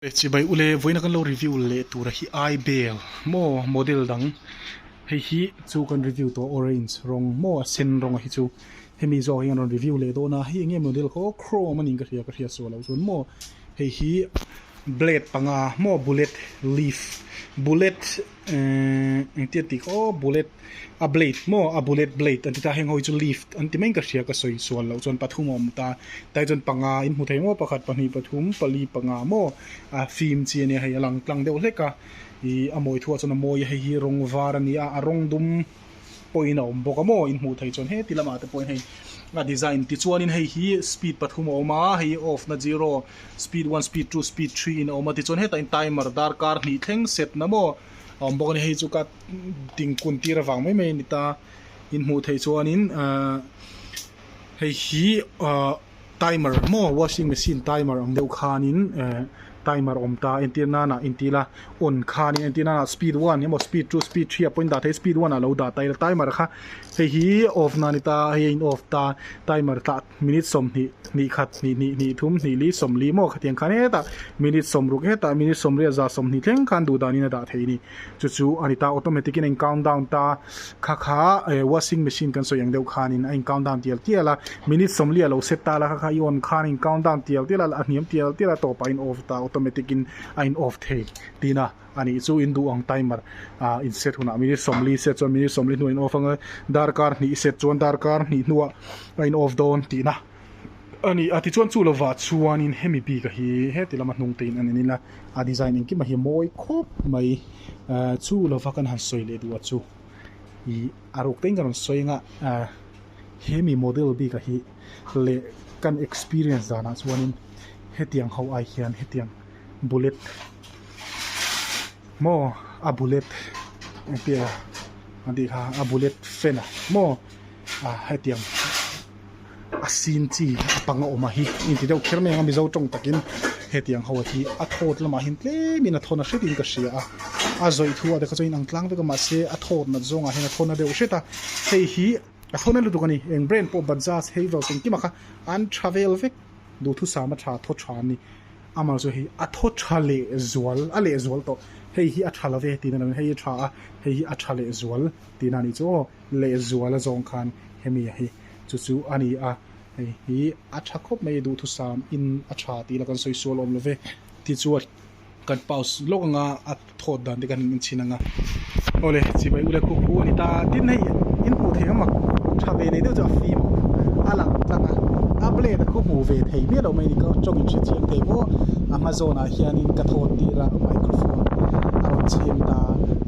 Chibai ule vawiina kan lo review leh tura hi ai bel maw model dang hei hi chu kan review tawh orange rawng maw a sen rawnga hi chu hemi zawk hi an rawn review leh dawn a hei enge model khaw chrome anin ka hria ka hria suah loh chuan maw hei hi blade panga maw bullet leaf bullet Umm engtiat tih ka aw bullet a blade maw a bullet blade a ti ta heng ho hi chu leaf an ti mai ka hria ka sawi sual loh chuan pathum a awm ta tai chuan panga in hmu thei maw pakhat pahnih pathum pali panga maw a fim chi ania hei a lang tlang deuh hlek a ih a mawithu ah chuan a mawi a hei hi rawng var ania a rawng dum-- pawhin a awm bawk a maw in hmuh theih chuan heti lamah te pawhin hei a design ti chuanin hei hi speed pathum a awm a hei hi off na zero speed one speed two speed three in a awm a tichuan heta in timer darkar hnih thleng set na maw a awm bawk a ni hei chu ka ding kun tir avang mai mai a ni ta in hmuh theih chuanin ahh hei hi ahh-- Timer maw washing machine timer ang deuh khanin eh timer awm ta entir nana entir a on khan in entir nana speed one emaw speed two speed three apawhin dah theih a speed one ah a lo dah ta ila timer kha hei hi off na a ni ta hei a in off ta timer tah minute sawmhnih hnih khat hnih hnih hnih thum hnih li sawmli maw khatiang khan hetah minute sawmruk hetah minute sawmriat za sawmhnih thleng khan duh dan in a dah theih a ni. Chu chu a ni ta, automatic in a in count down ta. Kha kha eh washing machine kan sawi ang deuh khan in a in count down tial tial a, minute sawmli a lo set ta la kha kha i on khan a in count down tial tial a, a hniam tial tial a tawp ah a in off ta, automatic in a in off thei ti na a nih chu in duh ang timer ah in set hunah minute sawmli set chuan minute sawmli hnuah in off ang a, darkar hnih set chuan darkar hnih hnuah a in off dawn tih na. a ni a tichuan chu lovah chuanin hemi bik a hi heti lama hnung teiin a nen ila a design engkim a hi a mawi khawp mai ahh chu lova kan han sawi leh duh ah chu ih a ruk tein ka rawn sawi anga ahh hemi model bik a hi leh kan experience danah chuanin hetiang ho ai hian hetiang bullet maw a bullet engtia a tih kha a bullet fan ah maw. ah hetiang a sin chi a panga awmah hi inti deuh kher mai ang a mizo tawng takin hetiang ho hi a thawt lamah hian tlemin a thawn a hretin ka hria a a zawih thu ah te kha chuan a inang tlang vek a mahse a thawt nat zawngah hian a thawn na deuh hret a hei hi a thawn na lutuk a ni eng brand pawh Bajaj hei zawh chhung kimah kha an tha vel vek duhthusam a tha thaw tha a ni amah zawh hi a thaw tha leh zual a leh zual tawh hei hi a tha lo ve tiin a lang a hei hi a tha a hei hi a tha leh zual tiin a nih chu aw. leh zual a zawng khan hemi a hi chu chu a ni a, hei hi a tha khawp mai a duhthusam in a tha tih ila kan sawi sual awm love tih chu a kan paus lawk anga a thawt dan te kan in chhin anga awle chibai ula khup pu a ni ta tin hei in hmuh theih ang mak tha ve nei deuh chu a fim a lang tlang a a blade a khup hmuh ve thei miah loh mai a ni tawng in hre chiang thei maw a hma zawnah hian. khat hianin ka thawt tir a microphone a rawn chhem ta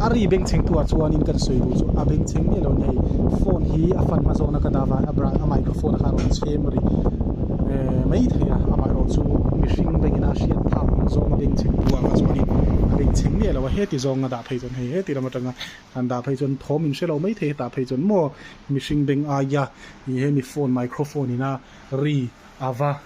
a a ri beng chheng tu ah chuanin kan sawi duh chu a beng chheng miah loh nia hei phone hi a fan hma zawkna ka dah vang a bra a microphone a kha a rawn chhem ri eh mai thei a amaherawh chu mihring bengin a hriat phak ang zawng a beng chheng tu ah kha chuanin a beng chheng miah loh a heti zawnga dah phei chuan hei heti ram atanga kan dah phei chuan thawm in hre lo mai thei hetah phei chuan maw mihring beng aia ih he mi phone microphone ina ri a va.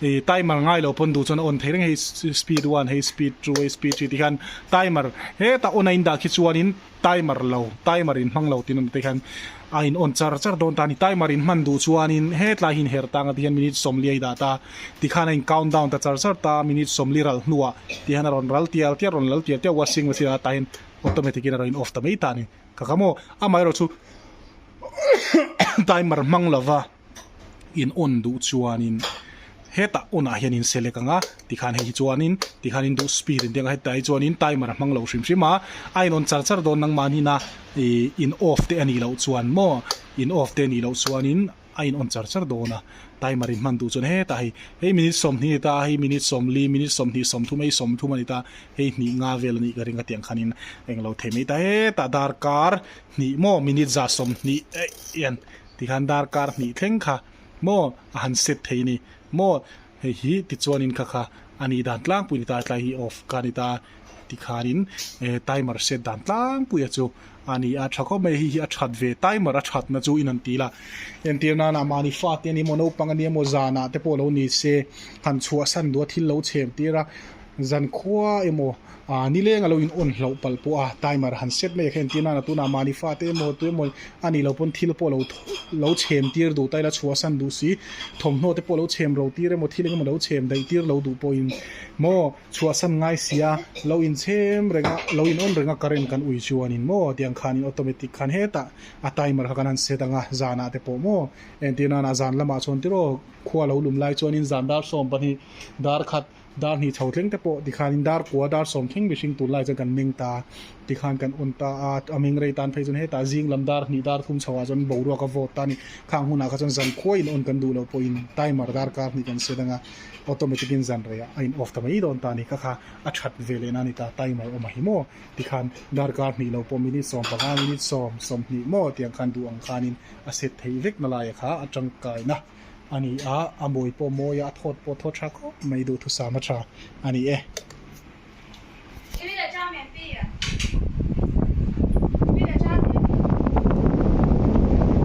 Hei timer ngai lo pawn duh chuan a on thei reng hei speed one hei speed two hei speed three te hian timer heta on a indah khi chuanin timer lo timer in hmang lo tina te hian a in on char char dawn ta a ni timer in hman duh chuanin hetlai hi in her tang ati hian minute sawmli a idah ta tikhan a in count down ta char char ta minute sawmli ral hnuah ti hian a rawn ral tial tial rawn lal tial tial washing machine ah ta hian automatic in a rawn in off ta mai ta a ni ka ka maw amaherawhchu timer hmang lova. in on duh chuanin heta onah hian in select ang a tikhan hei hi chuanin tikhan in duh speed in tia ka hetah hi chuanin timer a hmang lo hrim hrim a a in on char char dawn nang mahni ina ih in off te a nih loh chuan maw in off te a nih loh chuanin a in on char char dawn a timer in hman duh chuan hetah hei hei minute sawmhnih a ni ta hei minute sawmli minute sawmhnih sawmthum hei sawmthum a ni ta hei hnih nga vel a nih ka ring atiang khanin englo thei mai ta hetah darkar hnih maw minute za sawmhnih eih hian ti khan darkar hnih thleng kha maw a han set thei ni maw hei hi ti chuanin kha kha a nih dan tlangpui ni ta a tlai hi off ka ni ta ti khanin eh timer set dan tlangpuia chu a ni a tha khawp mai hei hi a that ve timer a thatna chu in an ti la entir nana mahni fate ni maw naupang a nia maw zanah te pawh lo ni se han chhuah san duh a thil lo chhem tir a. Zan khua emaw aah ni leng a lo in on hlauh palh pawh a timer han set mai a khen tir nan a tunah mahni fate emaw tui emaw a nih loh pawn thil pawh lo lo chhem tir duh ta ila chhuah a san duh si thawmhnaw te pawh lo chhem ro tir emaw thil engemaw lo chhem daih tir lo duh pawhin maw chhuah a san ngai si a lo in chhem reng a lo in on reng a current kan ui chuanin maw tiang khanin automatic khan hetah a timer kha kan han set ang a zanah te pawh maw entir nana zan lamah chuan tiraw khua lo lum lai chuanin zan dar sawm pahnih darkhat Dar hnih chho tleng te pawh tikhanin dar kua dar sawm thleng mihring tun lai chuan kan meng ta tikhan kan un ta a, a meng rei tan phei chuan hetah zing lam dar hnih dar thum chhoah chuan boruak a vote ta ni khang hunah kha chuan zan khuai in on kan duh loh pawhin timer dar kar hnih kan set ang a automatic in zan rei a in off ta mai dawn ta ni ka kha a that ve leh na ni ta timer awm a hi maw tikhan dar kar hnih lo pawh minute sawm panga minute sawm sawm hnih maw tiang khan duh ang khanin a set thei vek na lai a kha a tangkai na. a ni a, a mawi pawh a mawi a, a thawt pawh a thaw tha khawp mai, duhthusam a tha a ni e.